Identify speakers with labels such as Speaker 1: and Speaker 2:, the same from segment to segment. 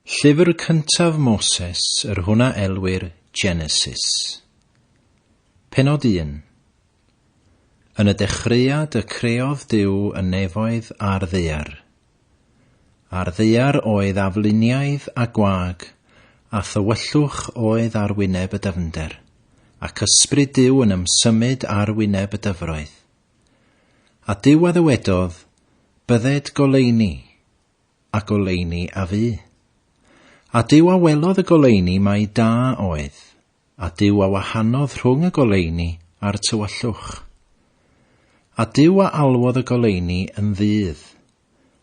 Speaker 1: Llyfr cyntaf Moses, yr hwn a elwir Genesis. Pennod 1 Yn y dechreuad y creodd Duw y nefoedd a'r ddaear. A'r ddaear oedd afluniaidd a gwag, a thywyllwch oedd ar wyneb y dyfnder, ac ysbryd Duw yn ymsymud ar wyneb y dyfroedd. A Duw a ddywedodd, Bydded goleuni, a goleuni a fu. A Duw a welodd y goleuni mai da oedd, a Duw a wahanodd rhwng y goleuni a'r tywyllwch. A Duw a alwodd y goleuni yn ddydd,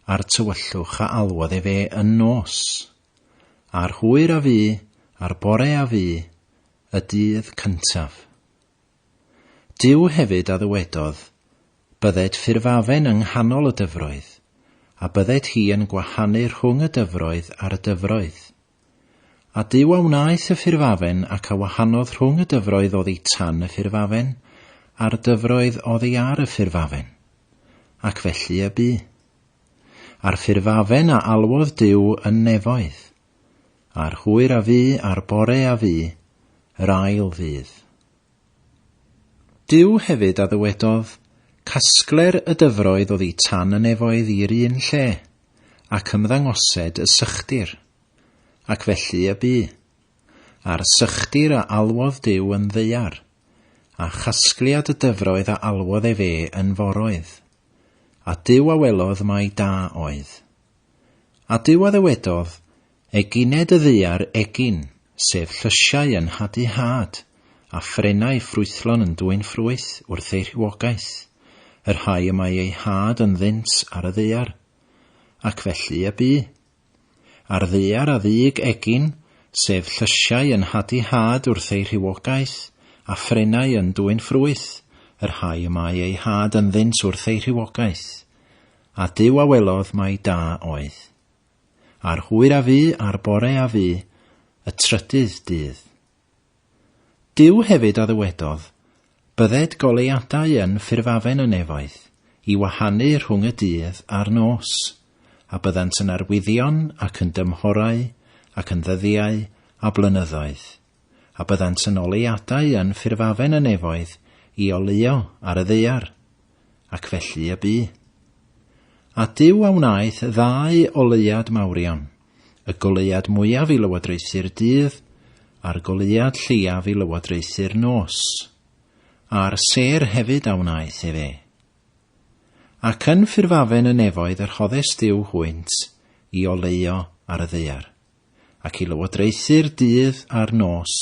Speaker 1: a'r tywyllwch a alwodd efe yn nos. A'r hwyr a fu, a'r bore a fu, y dydd cyntaf. Duw hefyd a ddywedodd, Bydded ffurfafen yng nghanol y dyfroedd, a bydded hi yn gwahanu rhwng y dyfroedd a'r y dyfroedd. A Duw a wnaeth y ffurfafen ac a wahanodd rhwng y dyfroedd oddi tan y ffurfafen, a'r dyfroedd oddi ar y ffurfafen. Ac felly y bu. A'r ffurfafen a alwodd Duw yn nefoedd, A'r hwyr a fu a'r bore a fu, yr ail ddydd. Duw hefyd a ddywedodd, Casgler y dyfroedd oddi tan y nefoedd i'r un lle, ac ymddangosed y sychdir. Ac felly y bu. A'r sychdir a alwodd Duw yn ddaear, a chasgliad y dyfroedd a alwodd efe yn foroedd. A Duw a welodd mai da oedd. A Duw a ddywedodd, Egined y ddaear egin, sef llysiau yn hadu had, a phrennau ffrwythlon yn dwyn ffrwyth wrth eu rhywogaeth, y rhai y mae eu had ynddynt ar y ddaear. Ac felly y bu. A'r ddaear a ddug egin, sef llysiau yn hadu had wrth eu rhywogaeth, a phrennau yn dwyn ffrwyth, y rhai y mae eu had ynddynt wrth eu rhywogaeth. A Duw a welodd mai da oedd. A'r hwyr a fu a'r bore a fu, y trydydd dydd. Duw hefyd a ddywedodd, Bydded goleuadau yn ffurfafen y nefoedd, i wahanu rhwng y dydd a'r nos, a byddant yn arwyddion ac yn dymhorau ac yn ddyddiau a blynyddoedd. a byddant yn ôl ei adau yn ffurfafen y nefoedd i oleuo ar y ddaear, ac felly y bu. A Duw a wnaeth ddau oleuad mawrion, y goleuad mwyaf i lywodraethu'r dydd, a'r goleuad lleiaf i lywodraethu'r nos. A'r sêr hefyd a wnaeth ef e. Ac yn ffurfafen y nefoedd y rhoddes Duw hwynt i oleuo ar y ddaear. ac i lywodraethu'r dydd a'r nos,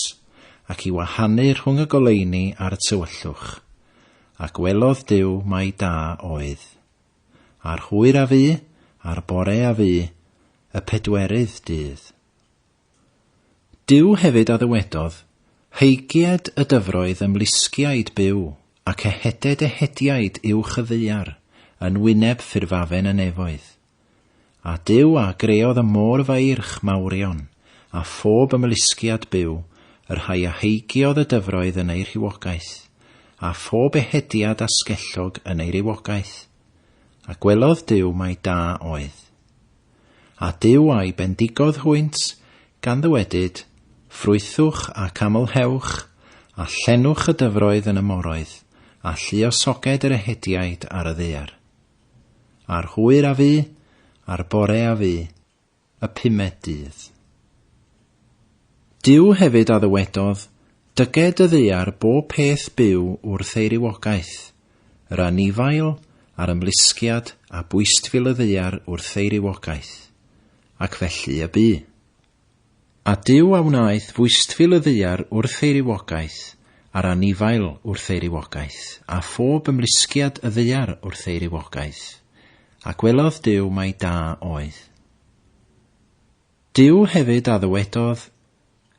Speaker 1: ac i wahanu rhwng y goleuni ar y tywyllwch. A gwelodd Duw mai da oedd. A'r hwyr a fu, a'r bore a fu, y pedwerydd dydd. Duw hefyd a ddywedodd, Hygied y dyfroedd ymlusgiaid byw, ac eheded ehediaid uwch y ddaear, yn wyneb ffurfafen y nefoedd. A Duw a greodd y môr faeirch mawrion, a phob ymlusgiad byw, y rhai a heigiodd y dyfroedd yn eu rhywogaeth, a phob ehediad asgellog yn ei rywogaeth. A gwelodd Duw mai da oedd. A Duw a'i bendigodd hwynt, gan ddywedyd, Ffrwythwch ac amlhewch, a llenwch y dyfroedd yn y moroedd, a lluosoged yr ehediaid ar y ddaear. A'r hwyr a fu, a'r bore a fu, y pumed dydd. Duw hefyd a ddywedodd, Dyged y ddaear bob peth byw wrth ei rywogaeth, yr anifail, a'r ymlusgiad, a bwystfil y ddaear wrth ei rywogaeth. Ac felly y bu. A Duw a wnaeth fwystfil y ddaear wrth ei rywogaeth, a'r anifail wrth ei rywogaeth, a phob ymlusgiad y ddaear wrth ei rywogaeth. A gwelodd Duw mai da oedd. Duw hefyd a ddywedodd,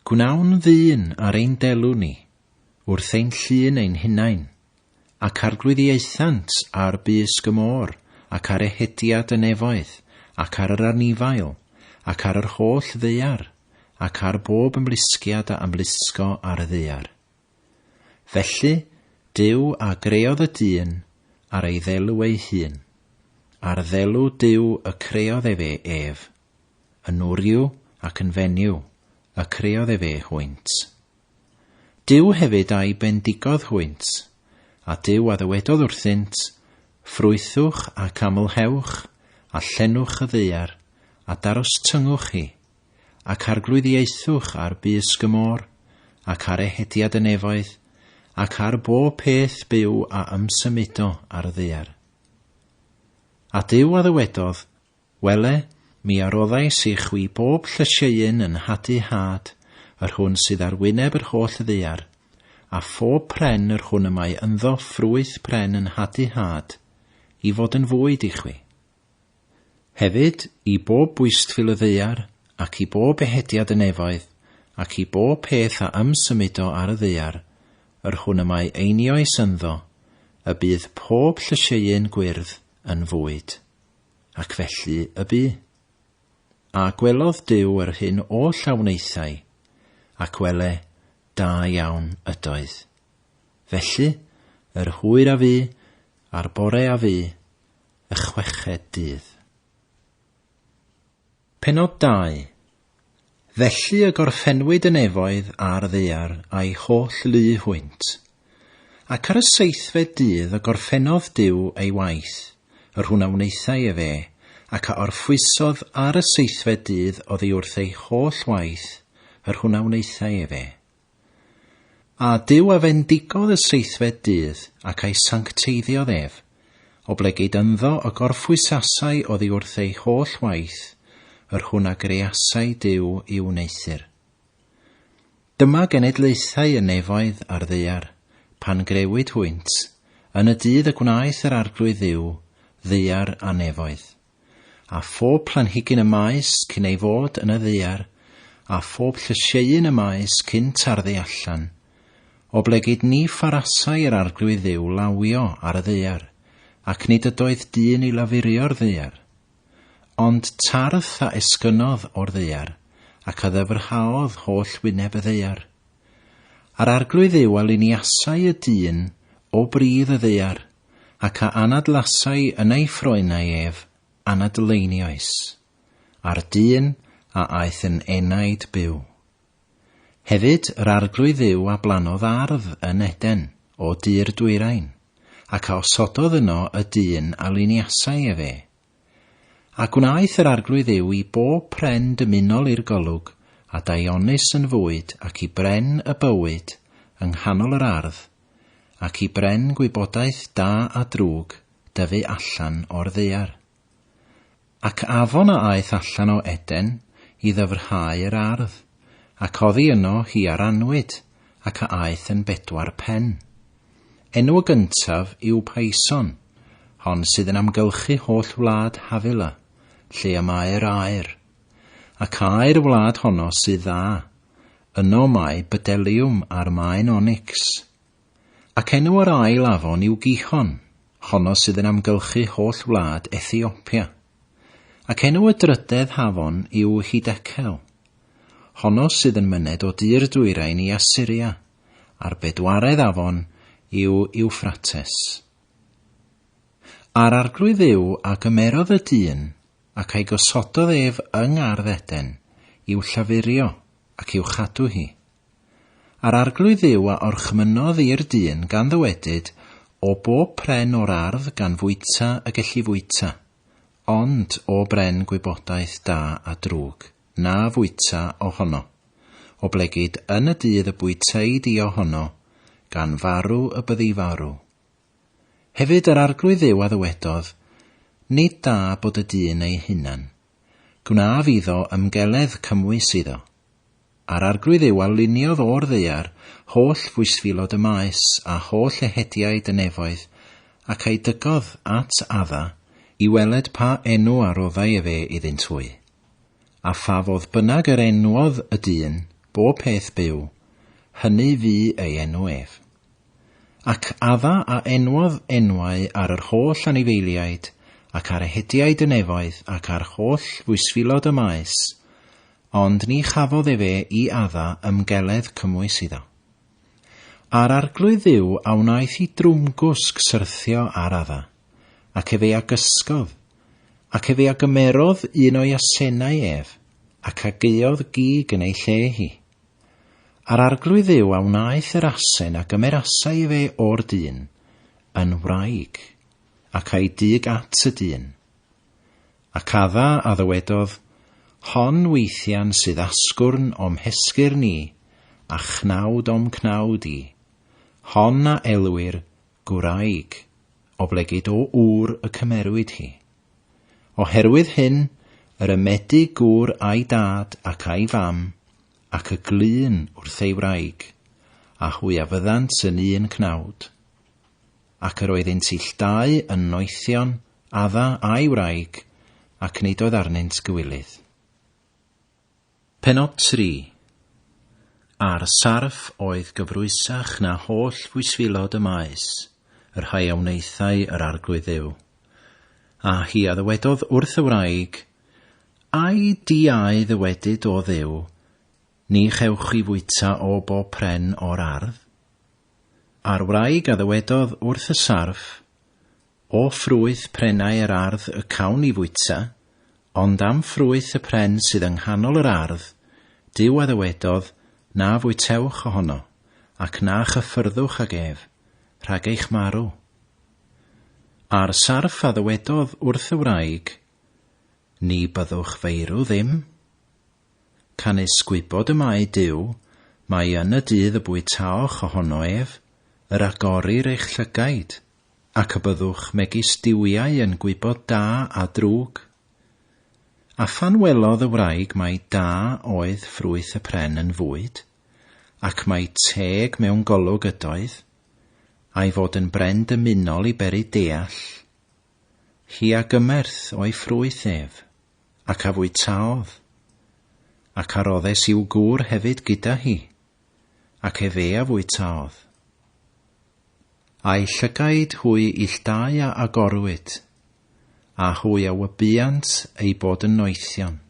Speaker 1: Gwnawn ddyn ar ein delw ni, wrth ein llun ein hunain, Ac arglwyddiaethant ar bysg y môr, ac ar ehediad y nefoedd, ac ar yr anifail, ac ar yr holl ddaear, ac ar bob ymlusgiad a ymlusgo ar y ddaear. Felly, Duw a greodd y dyn ar ei ddelw ei hun. Ar ddelw Duw y creodd efe ef. Yn wryw ac yn fenyw y creodd efe hwynt. Duw hefyd a'i bendigodd hwynt, a Duw a ddywedodd wrthynt, Ffrwythwch ac amlhewch, a llenwch y ddaear, a darostyngwch hi, ac arglwyddiaethwch ar bysg y môr, ac ar ehediad y nefoedd, ac ar bob peth byw a ymsymudo ar y ddaear. A Duw a ddywedodd, Wele, mi a roddais i chwi bob llysieun yn nhadu had, yr hwn sydd ar wyneb yr holl ddaear, a phob pren yr hwn y mae ynddo ffrwyth pren yn nhadu had, i fod yn fwyd i chwi. Hefyd, i bob bwystfil y ddaear, ac i bob ehediad y nefoedd, ac i bob peth a ymsymudo ar y ddaear, yr hwn y mae einioes ynddo, y bydd pob llysieun gwyrdd yn fwyd. Ac felly y bu. A gwelodd Duw yr hyn oll a wnaethai, ac wele, da iawn ydoedd. Felly, yr hwyr a fu, a'r bore a fu, y chweched dydd. Pennod 2. Felly y gorffennwyd y nefoedd a'r ddaear a'i holl lu hwynt. Ac ar y seithfed dydd y gorffennodd Duw ei waith, yr hwn a wnaethai efe, ac a orffwysodd ar y seithfed dydd oddi wrth ei holl waith, yr hwn a wnaethai efe. A Duw a fendigodd y seithfed dydd, ac a'i sancteiddiodd ef, oblegid ynddo y gorffwysasau oddi wrth ei holl waith, yr hwn a greasai Duw i'w wneuthur. Dyma genedlaethau y nefoedd a'r ddaear, pan grewyd hwynt, yn y dydd y gwnaeth yr Arglwydd Dduw, ddaear a nefoedd. a phob planhigyn y maes cyn ei fod yn y ddaear, a phob llysieuyn y maes cyn tarddu allan. Oblegid ni pharasai yr Arglwydd Dduw lawio ar y ddaear, ac nid ydoedd dyn i lafurio'r ddaear. Ond tardd a esgynnodd o'r ddaear, ac a ddyfrhaodd holl wyneb y ddaear. A'r Arglwydd Dduw a liniasai y dyn o bridd y ddaear, ac a anadlasai yn ei ffroenau ef, anadleiniais, a'r dyn a aeth yn enaid byw. Hefyd yr Arglwydd Dduw a blannodd ardd yn Eden, o du'r dwyrain, ac a osododd yno y dyn a liniasai efe, A gwnaeth yr Arglwydd yw i bob pren dymunol i'r golwg, a daionus yn fwyd, ac i bren y bywyd yng nghanol yr ardd, ac i bren gwybodaeth da a drwg dyfu allan o'r ddaear. Ac afon a aeth allan o Eden i ddyfrhau yr ardd, ac oddi yno hi a rannwyd, ac a aeth yn bedwar pen. Enw y gyntaf yw Payson, hon sydd yn amgylchu holl wlad Havila, lle y mae'r aer. Ac aer y wlad honno sydd dda, yno mae bydeliwm a'r maen onycs. Ac enw yr ail afon yw Gihon, honno sydd yn amgylchu holl wlad Ethiopia. Ac enw y drydedd hafon yw Hidecel, honno sydd yn myned o dir dwyrain i Assyria, a'r bedwaredd afon yw Iwffrates. A'r Arglwydd Dduw a gymerodd y dyn, ac a'i gosododd ef yng ngardd Eden, i'w llafurio, ac i'w chadw hi. A'r Arglwydd Dduw a orchmynnodd i'r dyn gan ddywedyd, O bob pren o'r ardd gan fwyta y gelli fwyta, ond o bren gwybodaeth da a drwg, na fwyta o hono. Oblegid yn y dydd y bwytei di o hono, gan farw y byddi farw. Hefyd yr Arglwydd Dduw a ddywedodd, Nid da bod y dyn ei hunan. Gwnaf iddo ymgeledd cymwys iddo. A'r Arglwydd Dduw a luniodd o'r ddaear holl fwysfilod y maes a holl ehediaid y nefoedd, ac a'i dygodd at Adda, i weled pa enw a roddai efe iddynt hwy. A pha fodd bynnag yr enwodd y dyn bob peth byw, hynny fu ei enw ef. Ac adda a enwodd enwau ar yr holl anifeiliaid ac ar ehediaid y nefoedd ac ar holl fwysfilod y maes, ond ni chafodd efe i adda ymgeledd cymwys iddo. A'r arglwydd Dduw a wnaeth i drwmgwsg syrthio ar Adda, ac ef ei agysgodd, ac ef ei agymerodd un o'i asenau ef, ac ageuodd gig yn ei lle hi. A'r arglwydd Dduw a wnaeth yr asen a gymerasai efe o'r dyn, yn wraig, ac a'i dug at y dyn. Ac adda a ddywedodd, Hon weithian sydd asgwrn o'm hesgyrn i, a chnawd o'm cnawd i. Hon a elwir, gwraig, oblegid o ŵr y cymerwyd hi. Oherwydd hyn, yr ymedig gŵr a'i dad ac a'i fam, ac y glun wrth ei wraig, a hwy a fyddant yn un cnawd. ac yr oeddynt ill dau yn noethion, adda a'i wraig, ac nid oedd arnynt gywilydd. Pennod 3 A'r sarff oedd gyfrwysach na holl fwysfilod y maes, y rhai a wnaethai yr Arglwydd Dduw. A hi a ddywedodd wrth y wraig, Ai di a'i ddywedyd, O Dduw, ni chewch chi fwyta o bob pren o'r ardd? A'r wraig a ddywedodd wrth y sarff, O ffrwyth prenau yr ardd y cawn ni fwyta, ond am ffrwyth y pren sydd yng nghanol yr ardd, Duw a ddywedodd, Na fwytewch ohono, ac na chyffyrddwch ag ef, rhag eich marw. A'r sarff a ddywedodd wrth y wraig, Ni byddwch feirw ddim. Canys gwybod y mae Duw, mai yn y dydd y bwytaoch ohono ef, yr agorir eich llygaid, ac y byddwch megis duwiau yn gwybod da a drwg. A phan welodd y wraig mai da oedd ffrwyth y pren yn fwyd, ac mai teg mewn golwg ydoedd, a'i fod yn bren dymunol i beri deall, hi a gymerth o'i ffrwyth ef. ac a fwytaodd, ac a roddes i'w gŵr hefyd gyda hi, ac efe a fwytaodd. A'i llygaid hwy illtau a agorwyd, a hwy a wybuant eu bod yn noethion,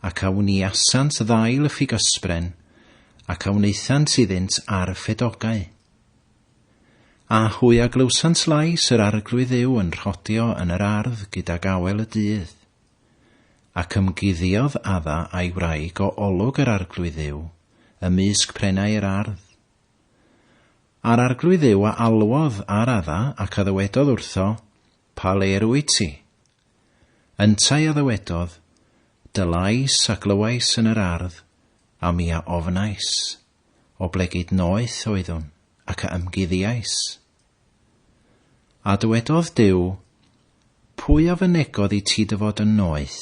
Speaker 1: ac a wniasant ddail y ffigysbren, ac a wnaethant iddynt ar ffedogau. A hwy a glywsant lais yr Arglwydd Dduw yn rhodio yn yr ardd gydag awel y dydd. Ac ymguddiodd Adda a'i wraig o olwg yr Arglwydd Dduw, ymysg prenau yr ardd. A'r Arglwydd Dduw a alwodd ar Adda, ac a ddywedodd wrtho, Pa le yr wyt ti? Yntau a ddywedodd, Dy lais a glywais yn yr ardd, a mi a ofnais. Oblegid noeth oeddwn, ac a ymguddiais. A dywedodd Duw, Pwy a fynegodd i ti dy fod yn noeth?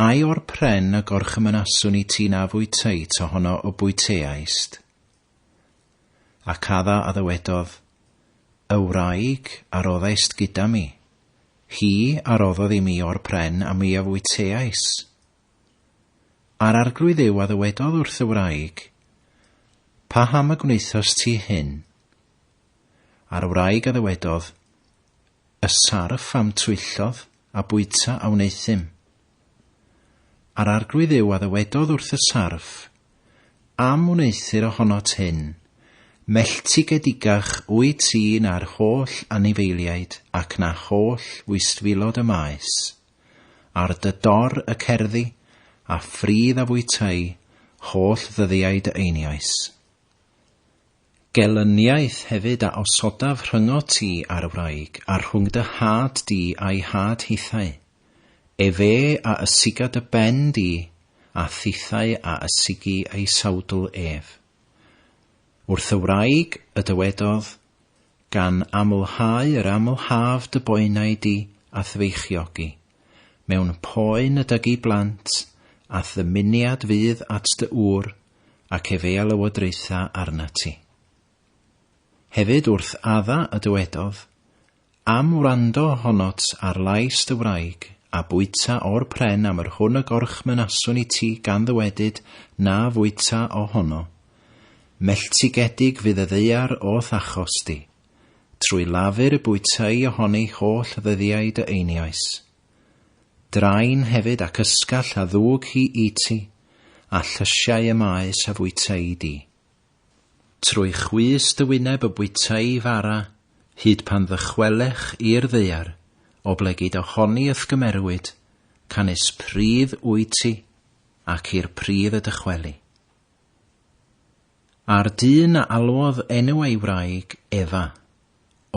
Speaker 1: Ai o'r pren y gorchymynaswn i ti na fwyteit ohono y bwyteaist? Ac adda a ddywedodd, Y wraig a roddaist gyda mi, hi a roddodd i mi o'r pren a mi a fwyteais. A'r Arglwydd yw a ddywedodd wrth y wraig, Paham y gwnaethost ti hyn? A'r wraig a ddywedodd, Y sarff a'm twyllodd a bwyta a wneuthum. A'r Arglwydd yw a ddywedodd wrth y sarff, Am wneuthur ohonot hyn, melltigedigach wyt ti na'r holl anifeiliaid ac na holl wystfilod y maes. Ar dy dor y cerddi, a phridd a fwytâi holl ddyddiau dy einioes. Gelyniaeth hefyd a osodaf rhyngot ti a'r wraig, a rhwng dy had di a'i had hithau, efe a ysiga dy ben di, a thithau a ysigi ei sawdl ef. Wrth y wraig y dywedodd, gan amlhau yr amlhaf dy boenau di a thfeichiogi mewn poen y dygi blant a'th ddymuniad fydd at dy ŵr ac ef ei alywodraetha arnat ti. Hefyd wrth adda y dywedodd, Am wrando honot ar lais dy wraig, a bwyta o'r pren am yr hwn y gorchmynason i ti gan ddywedyd na fwyta o hono. Melltigedig fydd y ddaear o'th achos di. Trwy lafur y bwytai ohoni holl ddyddiau dy einiais. Drain hefyd ac ysgall a ddwg hi i ti, a llysiau y maes a fwytai di. Trwy chwys dy wyneb y bwytai fara, hyd pan ddychwelech i'r ddaear, oblegid ohoni y'th gymerwyd, canys pridd wyt ti, ac i'r pridd y dychweli. A'r dyn a alwodd enw ei wraig Efa,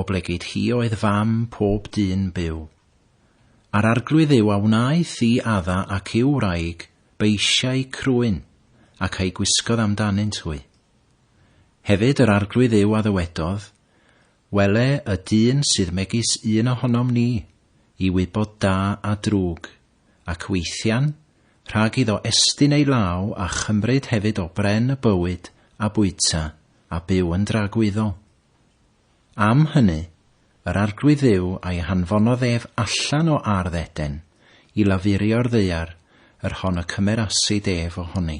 Speaker 1: Oblegid hi oedd fam pob dyn byw. A'r arglwydd yw a wnaeth i Adda ac i'w wraig beisiau crwyn, ac a'i gwisgodd am danynt hwy. Hefyd yr arglwydd yw a ddywedodd, Wele y dyn sydd megis un ohonom ni, i wybod da a drwg, ac weithian, rhag iddo estyn ei law a chymryd hefyd o bren y bywyd a bwyta a byw yn dragwyddol. Am hynny, yr Arglwydd Dduw a'i hanfonodd ef allan o ardd Eden, i lafurio'r ddaear, yr hon y cymerasid ef o honi.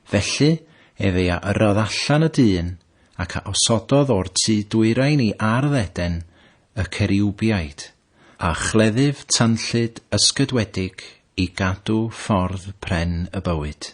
Speaker 1: Felly ef ei a yrrodd allan y dyn, ac a osododd o'r tu dwyrain i ardd Eden y ceriwbiaid, a chleddyf tanllyd ysgydwedig i gadw ffordd pren y bywyd.